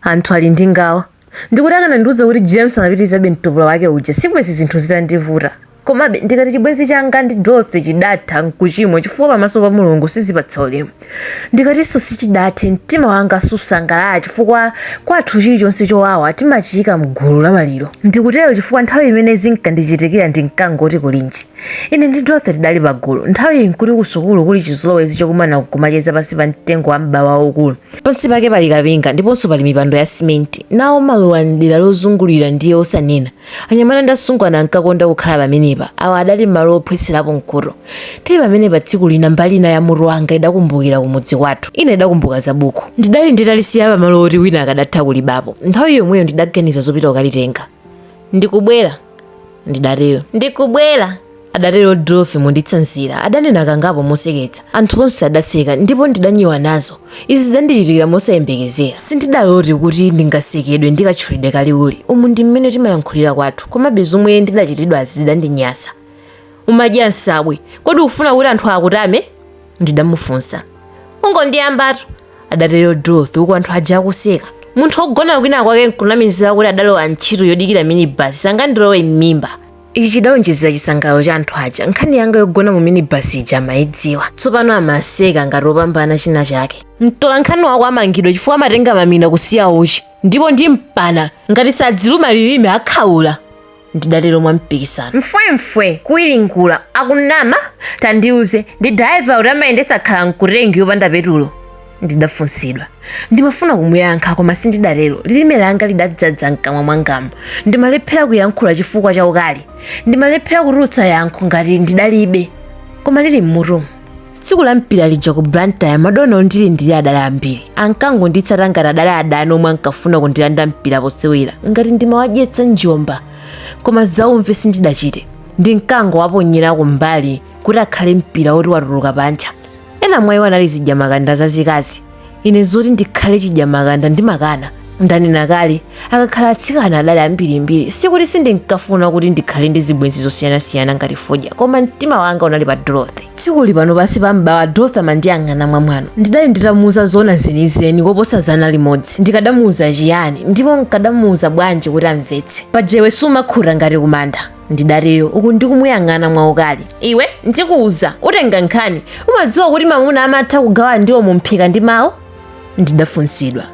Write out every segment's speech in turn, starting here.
Anthu ali ndi ngawa. Ndikuti akanandiuza kuti James amapitirizabe mtopola wake uja si bwenzi zinthu zitandivuta. Komabe, ndikati chibwenzi changa ndi Dorothy chidatha n'kuchimwa chifukwa pamaso pa Mulungu sizipatsa ulemu. Ndikatinso sichidathe, mtima wanga susangalala chifukwa kwathu chilichonse chowawa timachiika m'gulu la maliro. Ndikutero chifukwa nthawi imene zinkandichitikira ndinkangoti kulinji. Ine ndi Dorothy tidali pagulu. Nthawiyi n'kuti kusukulu kuli chizolowezi chokumana n'kumacheza pansi pa mtengo wa m'bawa waukulu. Pansi pake pali kapinga ndiponso pali mipando ya simenti. Nawo maluwa m'dera lozungulira ndiye osanena. Anyamata ndi asungwana ankakonda kukhala pamenepa. Awa adali malo ophwetserapo mkuto. Tili pamenepa tsiku lina mbali ina ya mutu wanga idakumbukira kumudzi kwathu. Ina idakumbuka za buku. Ndidali nditalisiya pamalo oti wina akadatha kulibapo. Nthawi yomweyo ndidaganiza zopita kukalitenga. Ndikubwera. ndidatero ndikubwera adatero dorothy monditsanzira adanena kangapo moseketsa anthu onse adaseka ndipo ndidanyiwa nazo izi zidandichitikira mosayembekezera sindidalote kuti ndingasekedwe ndi katchulidwe ka liwuli umu ndi mmene timayankhulira kwathu komabe zomwe ndidachitidwazi zidandinyasa umadya nsabwe kodi ufuna kuti anthu akutame ndidamufunsa ungondiyambatu adatero dorothy uku anthu aja akuseka munthu wogona kwina kwake nkunamizira kuti adalowa ntchito yodikira minibasi sangandilowe m'mimba ichi chidawonjezera chisangalalo cha anthu aja nkhani yanga yogona mu minibasi ija amayidziwa tsopano amaseka ngati opambana china chake mtolankhani wako amangidwa chifukwa amatenga mamina kusiya uchi ndipo ndimpana ngati sadziluma lilime akhaula ndidatero mwampikisano mfwemfwe kuwiringula akunama tandiuze ndi dalaiva uti amayendetsa khala mkutengi yopanda petulo ndidafunsidwa ndimafuna kumuyankha koma sindidatero lilime langa lidadzadza mkamwa mwangamu ndimalephera kuyankhula chifukwa cha ukali ndimalephera kutulutsa yankho ngati ndidalibe koma lili mmutu tsiku la mpira lija ku blantyre madona ondili ndili adali ambiri ankangonditsata ngati adali adani omwe ankafuna kundilanda mpira posewera ngati ndimawadyetsa njomba koma zaumve sindidachite ndinkangowaponyera kumbali kuti akhale mpira woti watuluka panja ena mwa iwo anali zidyamakanda zazikazi ine zoti ndikhale chidyamakanda ndimakana ndanena kale akakhala atsikana adali ambirimbiri sikuti sindinkafuna kuti ndikhale ndi zibwenzi zosiyanasiyana ngati fodya koma mtima wanga unali pa dorothy tsikuli pano pansi pa m'bawa dorothy amandiyang'ana mwamwano ndidali nditamuuza zona zenizeni koposa zana limodzi ndikadamuuza chiyani ndipo nkadamuuza bwanji kuti amvetse paja iwe sumakhuta ngati kumanda ndidatero uku ndikumuyang'ana mwaukali iwe ndikuuza utenga nkhani umadziwa kuti mamuna amatha kugawa ndiwo mumphika ndi mawu ndidafunsidwa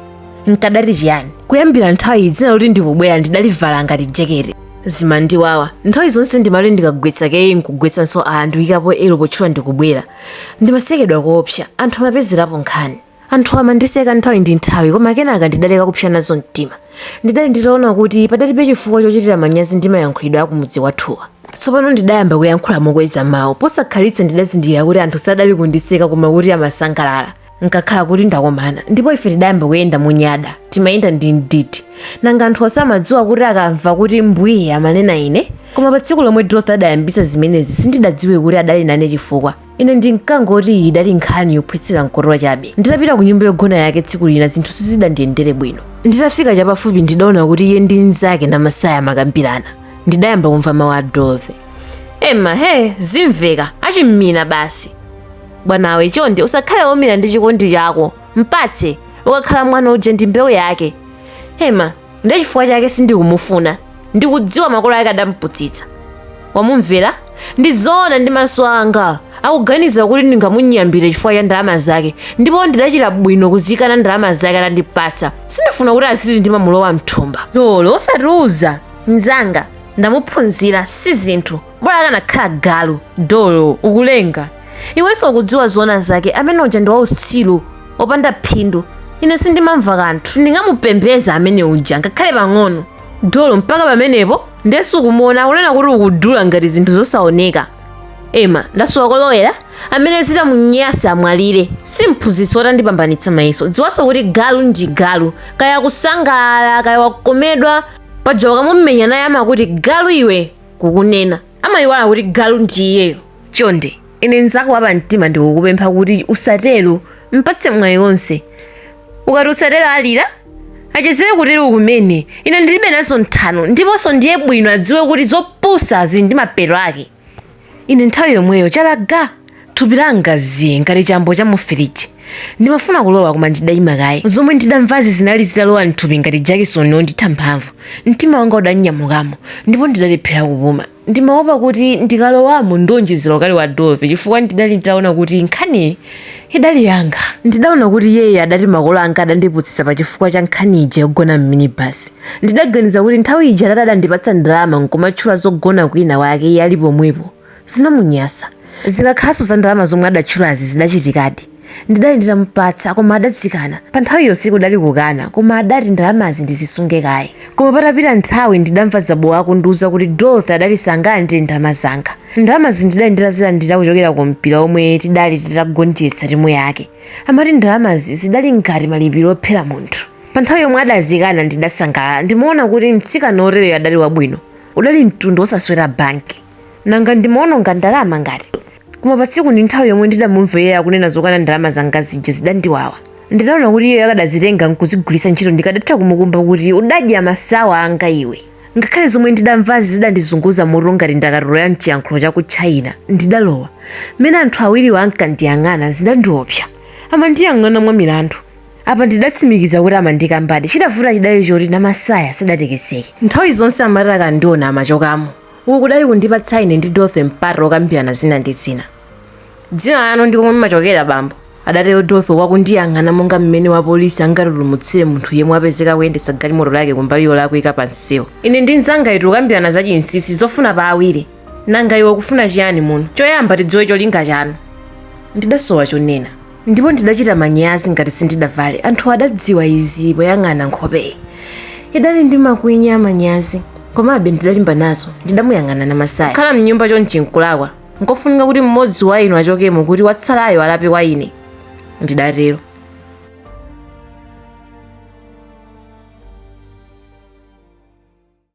nkadati chiyani kuyambira nthawiyi dzina loti ndikubwera ndidalivala ngati jekete zimandiwawa nthawi zonse ndimati ndikagwetsa k nkugwetsanso r nkuikapo l potchula ndikubwera ndimasekedwa koopsa anthu amapezerapo nkhani Anthu amandiseka nthawi ndi nthawi, koma kenaka ndidaleka kupsa nazo mtima. Ndidali nditaona kuti padalibe chifukwa chochitira manyazi ndi mayankhulidwe a kumudzi kwathuwa. Tsopano ndidayamba kuyankhula mokweza mawu. Posakhalitsa ndidazindikira kuti anthu sadali kundiseka koma kuti amasangalala. Nkakhala kuti ndakomana, ndipo ife tidayamba kuyenda monyada. Timayenda ndi mdidi. Nanga anthuwa samadziwa kuti akamva kuti mbwiye amanena ine? Koma patsiku lomwe Dorothy adayambitsa zimenezi sindidadziwe kuti adali nane chifukwa. ine ndinkangoti iyi idali nkhani yophwetsera mkhuto chabe nditapita ku nyumba yogona yake tsiku lina zinthu sizidandiyendere bwino nditafika chapafupi ndidaona kuti iye ndi mnzake namasaya amakambirana ndidayamba kumva mawu a dorothy ema he zimveka achim'minibasi bwanawe chonde usakhale woumira ndi chikondi chako mpatse ukakhala mwana uje ndi mbewu yake ema ndi chifukwa chake sindikumufuna ndikudziwa makolo ake adamuputsitsa wamumvera ndi zoona ndi maso anga akuganiza kuti ndingamunyambire chifukwa cha ndalama zake ndipo ndidachita bwino kuzikana ndalama zake atandipatsa sindifuna kuti aziti ndimamulowa mthumba dolo osatiuza mnzanga ndamuphunzira si zinthu bola akanakhala galu dolo ukulenga iwenso ukudziwa zoona zake amene uja ndi wautsiru opanda phindu ine sindimamva kanthu sindingamupembedze amene uja ngakhale pang'ono dolo mpaka pamenepo ndenso ukumuona akunena kuti ukudula ngati zinthu zosaoneka ema ndasowa kolowera amene zitamunyanse amwalire si mphunzitsi woti andipambanitsa mayeso dziwanso kuti galu ndi galu kaya akusangalala kaya wakomedwa paja ukamumenya naye amakuti galu iwe kukunena amayiwala kuti galu ndi iyeyo chonde ine nzako wapa mtima ndikukupempha kuti usatero mpatse mwayi wonse ukati usatero alira achezere kutero kumene ine ndilibe nazo nthano ndiponso ndiye bwino adziwe kuti zopusa zili ndi mapeto ake ine nthawi yomweyo chalaga Thupi langa zii ngati chambo cha mu firiji. Ndimafuna kulowa koma ndidaima kaye. Zomwe ndidamvazi zinali zitalowa m'thupi ngati jakisoni wonditha mphamvu. Mtima wanga udanyamukamo ndipo ndidalephera kupuma. Ndimaopa kuti ndikalowamo ndionjezera ukali wa Dorothy chifukwa ndidali nditaona kuti nkhaniyi idali yanga. Ndidaona kuti iyeyo adati makolo anga adandiputsitsa pa chifukwa cha nkhani ija yogona m'minibasi. Ndidaganiza kuti nthawi ija atate adandipatsa ndalama n'kumatchula zogona kwinakwake iye ali pomwepo. zinamunyansa zikakhalanso za ndalama zomwe adatchulazi zidachitikadi ndidali nditamupatsa koma adazikana pa nthawiyo sikudali kukana koma adati ndalamazi ndizisunge kaye koma patapita nthawi ndidamva zabowa akundiuza kuti dorothy adali sangalandire ndalama zanga ndalamazi ndidali nditazilandira kuchokera ku mpira omwe tidali titagonjetsa timu yake amati ndalamazi zidali ngati malipiro ophera munthu pa nthawi yomwe adazikana ndidasangalala ndimaona kuti mtsikana otereyo adali wabwino udali mtundu wosaswera banki nanga ndimaononga ndalama ngati koma patsiku ndi nthawi yomwe ndidamumva iye akunena zokana ndalama zanga zija zidandiwawa ndidaona kuti iye akadazitenga nkuzigwiritsa ntchito ndikadatha kumukumba kuti udadya masawa anga iwe ngakhale zomwe ndidamvazi zidandizunguza mutu ngati ndakatulo ya mchiyankhulo cha ku china ndidalowa mmene anthu awiriwo ankandiyang'ana zidandiopsa amandiyang'ana mwa milandu apa ndidatsimikiza kuti amandikambadi chidavuta chidali choti namasaya sadatekeseke nthawi zonse amati akandiona amachokamo uku kudali kundipatsa ine ndi dorothy mpata wokambirana zina ndi zina dzina lanu ndi komwe mumachokera bambo adatero dorothy akundiyang'ana monga mmene wapolisi angatulumutsire munthu yemwe wapezeka kuyendetsa galimoto lake kumbali yolakwika pa msewu ine ndi mzangayitu tikukambirana za chinsisi zofuna pa awiri nanga iwe ukufuna chiyani muno choyamba tidziwe cholinga chanu ndidasowa chonena ndipo ndidachita manyazi ngati sindidavale anthu adadziwa izi poyang'ana nkhopeyi idali ndi makwinya amanyazi komabe ndidalimba nazo ndidamuyang'ana namasaya kukhala mnyumba chonchi nkulakwa nkofunika kuti mmodzi wa inu achokemo kuti watsalayo alape kwa ine ndidatero